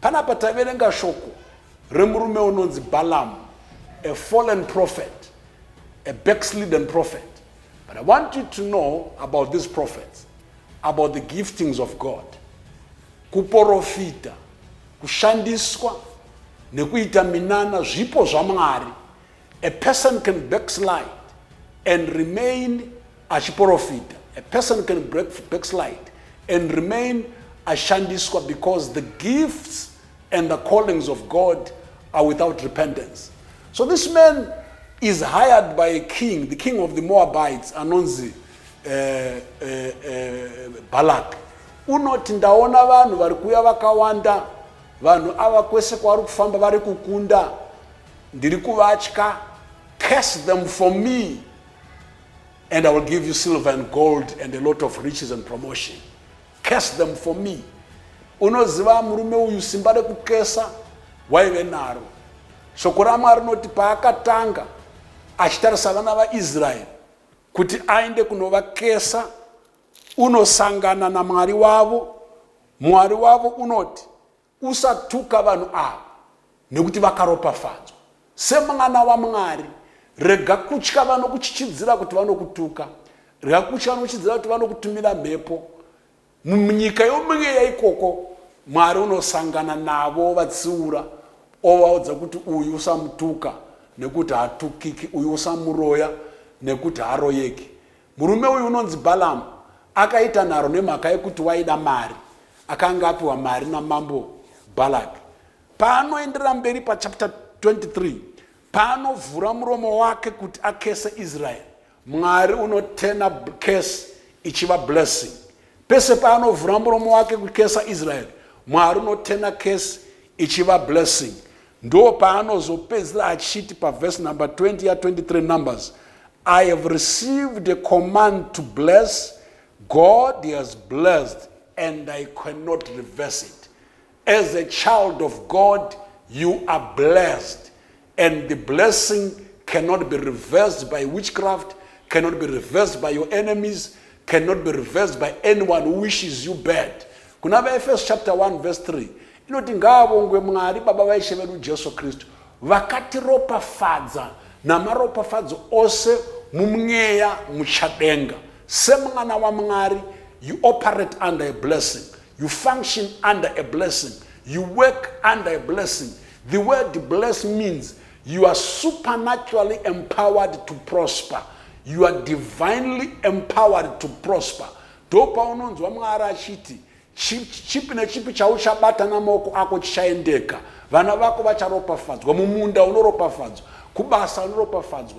Panapa taverenga shoko remurume unonzi Balaam, a fallen prophet, a backslidden prophet. But I want you to know about these prophets, about the giftings of God. Kuporofita, kushandiswa nekuita minana zvipo zvaMwari A person can backslide and remain achiporofita. A person can break, backslide and remain ashandiswa because the gifts and the callings of God are without repentance. So this man is hired by a king, the king of the Moabites, anonzi uh, uh, uh, Balak. Unoti ndaona vanhu vari kuuya vakawanda, vanhu ava kwese kwavari kufamba vari kukunda ndiri kuvatya curse them for me and i will give you silver and gold and a lot of riches and promotion curse them for me unoziva murume uyu simba rekukesa waive naro shoko ramwari rinoti paakatanga achitarisa vana vaisraeri kuti aende kunovakesa unosangana namwari wavo mwari wavo unoti Usatuka vanhu ava nekuti vakaropafadzwa semwana waMwari. Rega kutya vanokuchichidzira kuti vanokutuka. Rega kutya vanokuchidzira kuti vanokutumira mhepo. Munyika yomweya ikoko Mwari unosangana navo vatsiura ovaudza kuti uyu usamutuka nekuti hatukiki, uyu usamuroya nekuti haroyeki. Murume uyu unonzi Balaam akaita nharo nemhaka yekuti waida mari akanga apiwa mari namambo Balak. Paanoenderera mberi pachapter 23 paanovhura muromo wake kuti akese Israeri, Mwari unotena kesi ichiva blessing. Pese paanovhura muromo wake kukesa Israel, Mwari unoturner curse ichiva blessing. Ndoo paanozopedzisira achiti paverse number 20 ya 23 Numbers, I have received a command to bless, God has blessed and I cannot reverse it. As a child of God, you are blessed. And the blessing cannot be reversed by witchcraft, cannot be reversed by your enemies, cannot be reversed by anyone who wishes you bad. Kuna vaEfeso chapter 1 verse 3 inoti ngaavongwe Mwari Baba vaIshe vedu Jesu Kristu vakatiropafadza namaropafadzo ose mumweya muchadenga semwana wamwari you operate under a blessing You function under a blessing. You work under a blessing. The word bless means you are supernaturally empowered to prosper. You are divinely empowered to prosper. ndopaunonzwa mwari achiti chipi nechipi chauchabata namaoko ako chichaendeka vana vako vacharopafadzwa mumunda unoropafadzwa kubasa unoropafadzwa